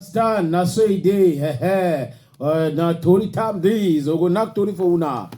Stand, na so e dey, hehe. Uh, na tori time dis, ogo knack tori for una.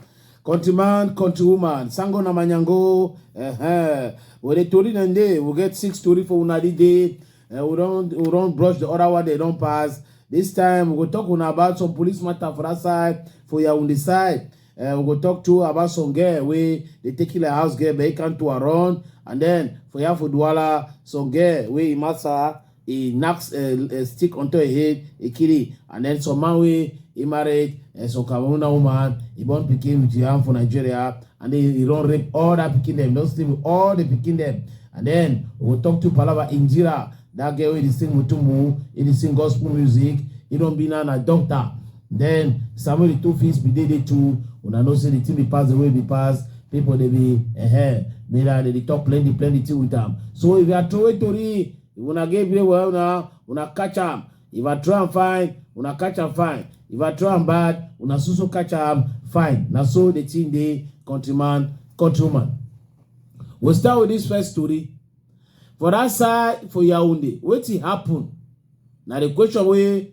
Country man, country woman, sango na manyango, hehe. Well, the tori dem dey, we get six tori for una dis day. Uh, we don we don brush the other one, they don pass. This time, we go talk una about some police matter for that side, for Yaoundé side. Uh, we go talk to about some girl wey dey take you like house girl but he can't to run and then for yafu duwala some girl wey imasa he knocks a, a stick onto her head he kill it and then some man wey he married uh, some cameroon woman he born pikin with yam for nigeria and then he don rape all that pikin dem don sleep with all the pikin dem and then we go talk to palava injira that girl wey dey sing mutumbu he dey sing gospel music he don be now na doctor Then Samuel the two feet be dey dey two. Una know say the thing be pass the way be pass. People they be eh eh. Mira they dey talk plenty plenty thing with am. So if you are throwing tori, if una get brain well una una catch am. If I throw am fine, una catch am fine. If I throw am bad, una so so catch am fine. Na so the thing dey countryman countrywoman. We start with this first story. For that side for Yaounde, wetin happen? Na the question wey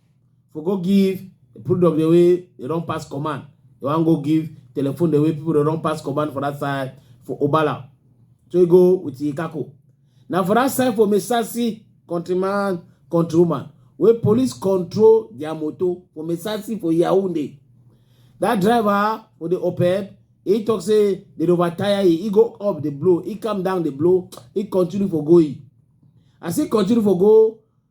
for go give product the way they don pass command they wan go give telephone the way people dey run pass command for that side for obala so he go with ikako na for that side for mesasi countryman countrywoman wey police control their motor for mesasi for yaounde that driver for the oped he talk say they dey overtire he he go up the blow he calm down the blow he continue for go he as he continue for go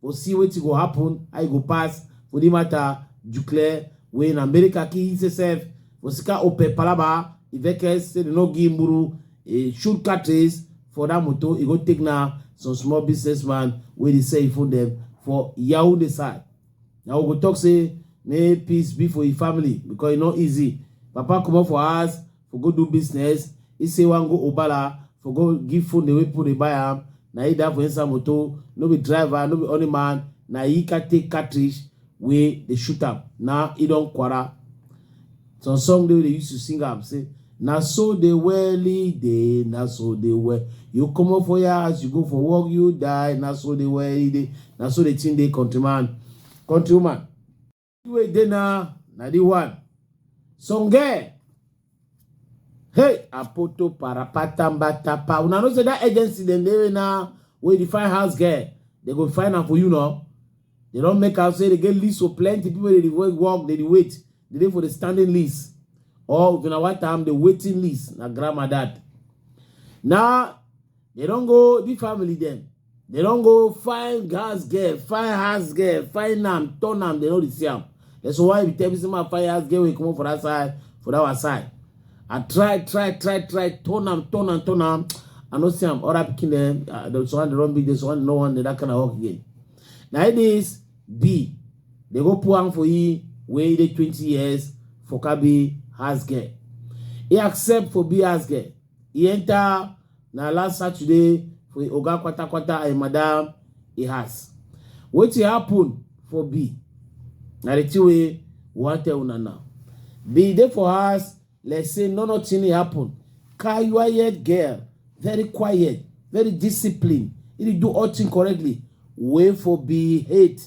for see wetin go happen how e go pass for the matter declare wey in america kill himself for sika ope palaba e vex say dem no give mburu e shoot cartridge for that motor e go take na some small businessman wey dey sell e phone dem for yaounde side na we go talk say may peace be for e family because e no easy papa comot for house for go do business he say wan go obala for go give phone away people dey buy am na he die for inside motor no be driver no be only man na he can take cartridge wey dey shoot am now he don kwara some song dey wey dey use to sing am say na so dey well e dey na so dey well you comot for your house you go for work you die na so dey well e dey na so the thing dey countryman countrywoman wey dey na na the one songe hey apoto parapatambatapa una know say that agency dem dey na wey dey find house girl dem go find am for you now dem don make am say dem get list of plenty people wey dey work dey wait dey dey for the standing list or if una want am the waiting list na grandma that na They don't go, the family them. They don't go find gas girl, find house girl, find them, turn them, they know the same. That's why we tell me some find house girl, we come up for that side, for that our side. I try, try, try, try, turn them, turn them, turn them. I know some other picking them, uh, there's one, the wrong big, there's one, no one, that kind of work again. Now it is B. They go pour am for you, wait the 20 years for Kabi house girl. He accept for be house girl. He enter na last Saturday for Oga Kwata Kwata and Madam he has. Wetin happen for B? Na the thing wey we wan tell una now. B dey for house like say no nothing happen. Quiet girl, very quiet, very disciplined. He dey do all thing correctly. Wey for B hate.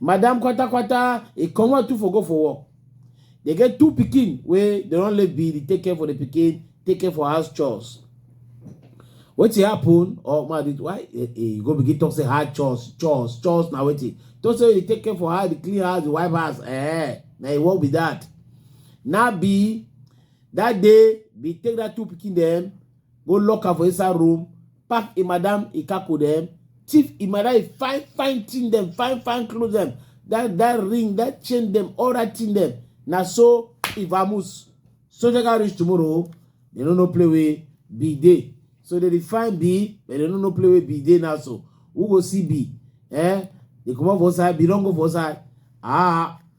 madam kwata kwata e comot too for go for work dey get two pikin wey dey don leave be dey take care for the pikin take care for house chores wetin happen or ma dey why eh, eh, you go begin talk say hard chores chores chores na wetin talk say you dey take care for house dey clean house dey wipe house eh na e work be that na be that day be take that two pikin dem go lock am for inside room pack im madam im kako dem, thief im madam im fine fine thing dem, fine fine clothes dem, that that ring, that chain dem, all that thing dem. Na so e vamoose. Soldier can reach tomorrow. They no no play with be day. So they define B, but they no no play with B day now. So who go see B? Eh? They come up for side, B don't go for side. Ah.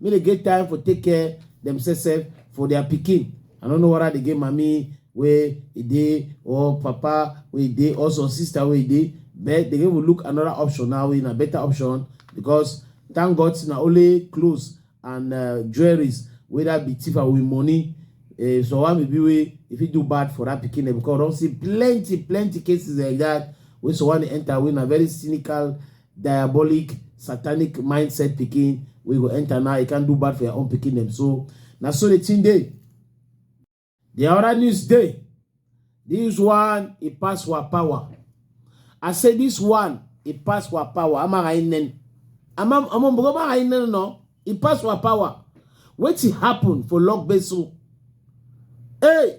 make dem get time for take care themselves sef for their pikin i no know whether they get mami wey e dey or papa wey e dey or some sister wey e dey but they go look another option now wey na better option because thank god say na only clothes and uh, jewelries wey that be thief away money uh, so why maybe wey if you do bad for that pikin because we don see plenty plenty cases like that wey someone enter wey na very cynical diabolic satanic mindset pikin wey go enter now you can do bad for your own pikin dem so na so the thing dey the other news dey this one e pass wa power i say this one e pass wa power amara inen ama ama mbogo amara inen no e pass wa power wetin happen for log beso hey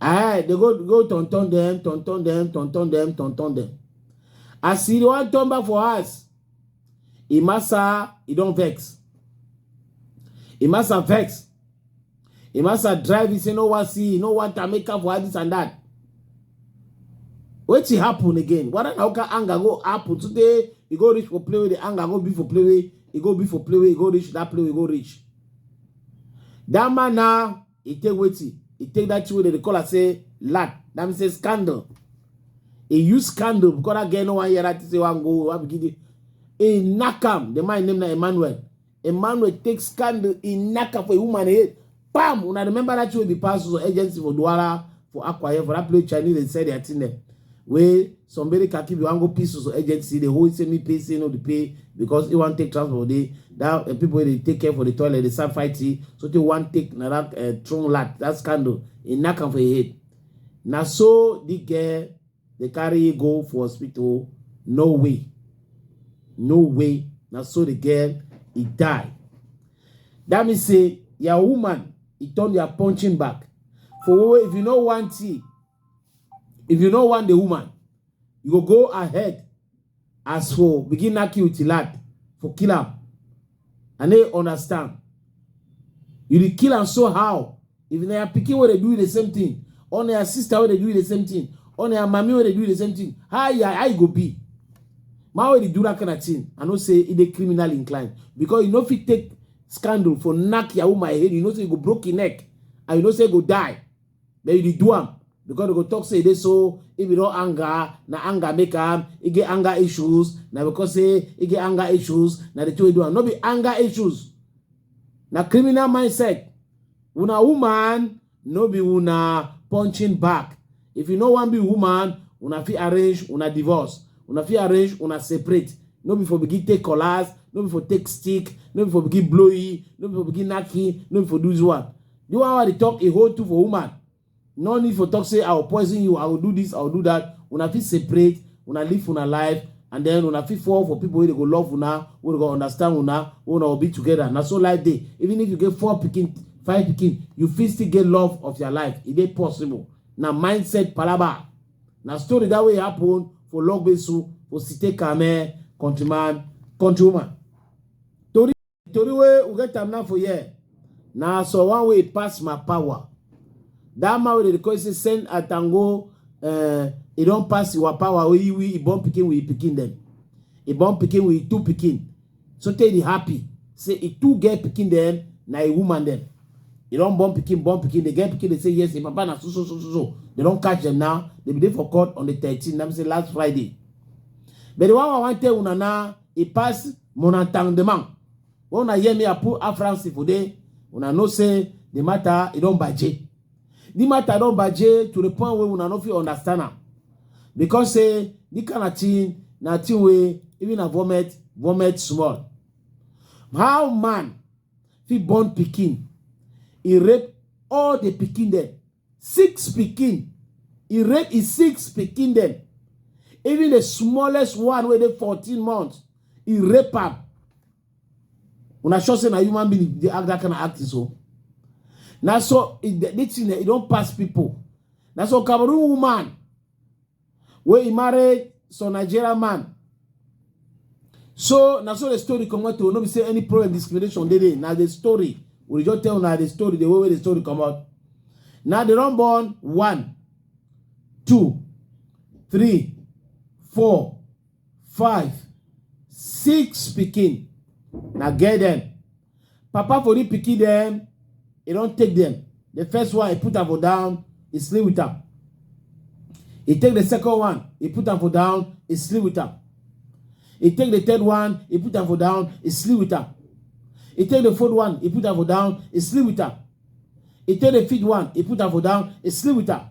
Eh, they go go turn turn them, turn turn them, turn turn them, turn turn them. As he wan turn back for us, Imasa, he don't vex. Imasa vex. Imasa drive, he say no one see, no one can make up for this and that. What happen again? What how can anger go happen today? He go reach for play with the anger, go be for play with, he go be for play with, he go reach that play, he go reach. That man now. e take wetin e take that thing wey dem dey call am say lad that mean say scandal e use scandal because that girl no wan hear that thing say wan go wan begin dey e knack am the man name na emmanuel emmanuel take scandal e knack am for a woman head pam una remember that thing wey be pass so agency for duwala for akwa ibom for that place chinese dey sell their thing dem wey some very khaki be wan go pieces so agency dey hold say me pay say no dey pay because he wan take transport dey that uh, people dey take care for the toilet dey start fighting so they wan take na that uh, eh, throne lat that scandal he knack am for him head na so the girl dey carry go for hospital no way no way na so the girl he die that mean say your woman he turn your punching back for if you no want it If you no want the woman, you go go ahead as for begin knack you with lad for kill am. I no understand. You dey kill am so how? If na your pikin wey dey do the same thing, or na your sister wey dey do the same thing, or na your mommy wey dey do the same thing, how you, how you go be? Man wey dey do that kind of thing, I know say e dey criminal inclined because you no fit take scandal for knack your woman head, you know say you go broke your neck and you know say you go die. Then you dey do am because they go talk say e dey so if you don anger na anger make am e get anger issues na because say e get anger issues na the two wey do am no be anger issues na criminal mindset una woman no be una punching back if you no wan be woman una fit arrange una divorce una fit arrange una separate no be for begin take collars no be for take stick no be for begin blow e no be for begin knack e no be for do this one The one wey dey talk a whole two for woman, no need for talk say I will poison you, I will do this, I will do that. Una fit separate, una live una life, and then una fit fall for people wey dey go love una, wey go understand una, wey una go be together. Na so life dey. Even if you get four pikin, five pikin, you fit still get love of your life. E dey possible. Na mindset palaba. Na story that way happen for Logbesu, for Site Kame, countryman, countrywoman. tori wey we get am now for here na so one way pass my power that man wey dey call say send atango uh, e don pass your power wey we e born pikin with e pikin dem e born pikin with e two pikin so tey e happy say e two get pikin dem na e woman dem e don born pikin born pikin dey get pikin dey say yes e papa na so so so so so they don catch dem now they bin dey for court on the thirteen na be say last friday but the one wey i wan tell una na e pass Mon entendement. When I hear me, I put a France for there. When I know say the matter, it don't budget. The matter don't budget to the point where when I know if you understand am. Because say the kind of thing, na thing way even a vomit, vomit small. How man fit born pikin, he rape all the pikin dem Six pikin. He rape his six pikin dem. Even the smallest one wey dey 14 months, he rape am. Una sure say na human being dey act that kind of acting so? Na so e, this thing e don pass people. Na so Cameroon woman wey he marry some Nigerian man. So na so the story come out to oh, no be say any problem discrimination dey dey na the story we just tell na the story the way wey the story come out. Now the run born one, two, three, four, five, six pikin na get dem. papa for the pikin dem e don take dem the first one he put am for down he sleep with am he take the second one he put am for down he sleep with am he take the third one he put am for down he sleep with am he take the fourth one he put am for down he sleep with am he take the fifth one he put am for down he sleep with am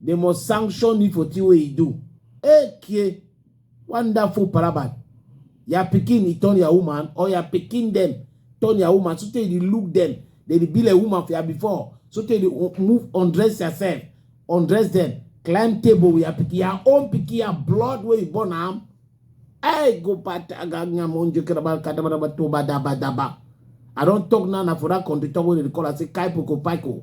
They must sanction me for the way he do. Okay. Wonderful parabat. Your picking, he turn your woman, or your picking them, turn your woman. So they look them. They be like woman for you before. So they move, undress yourself, undress them, climb table with your picking, your own picking, your blood where you born am. Hey, go pat aganya monjo kerabal kadabadaba toba daba daba. I don't talk now for that country talk where they call I say kaipoko paiko.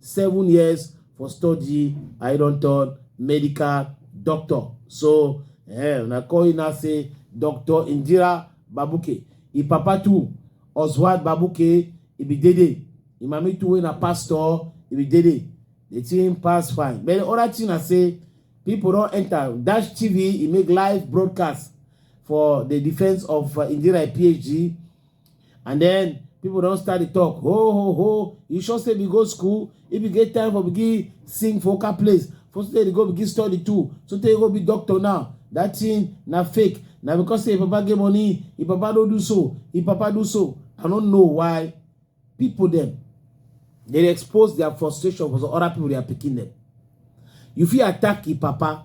seven years for study i don turn medical doctor so eh, una call una say dr indira babuke e papa too oswald babuke e be dede e mami too wey na pastor e be dede the thing pass fine but the other thing na say people don enter dash tv e make live broadcast for the defense of uh, indira phd and then people don start to talk ho ho ho you sure say we go school if you get time for begin sing for oka place for say you go begin study too so tey you go be doctor now that thing na fake na because say your papa get money your papa no do so your papa do so i no know why people dem dey expose their frustration for some other people their pikin dem you fit attack your papa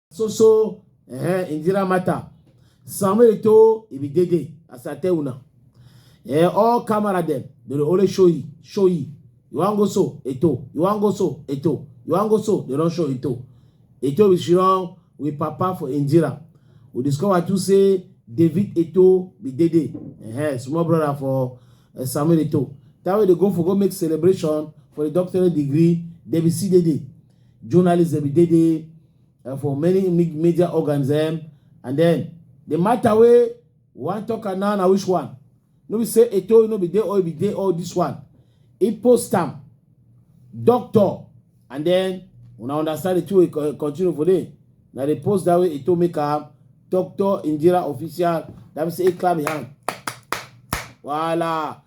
So so eh Indira Mata. Samuel to it be day day as I tell una. Eh all camera them they dey always show you show you. You wan go so eto you wan go so eto you wan go so they don show eto. Eto we she run with papa for Indira. We discover too say David Eto be day day. Eh small brother for uh, Samuel Eto. That way they go for go make celebration for the doctorate degree. They be see day day. journalists dem be dey dey uh, for many media organs dem and then the matter wey wan talk am now na which one no be say eto no be dey all be dey all this one e post am doctor and then una understand the two wey co- continue for there na the post that way eto make am doctor indira official that mean say e clap im hand wahala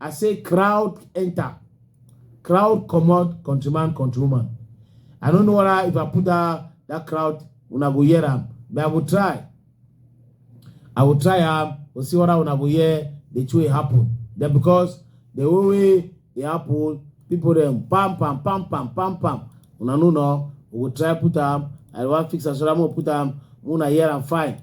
I say crowd enter, crowd come out, countryman, countrywoman. I don't know whether if I put that, that crowd, when I go hear them, but I will try. I will try them, we'll see what I go hear, the two happen. Then because the way they happen, people them pam pam pam pam pam pam. Una no no, we will try put them, I want fix as well, put them, when I hear them fine.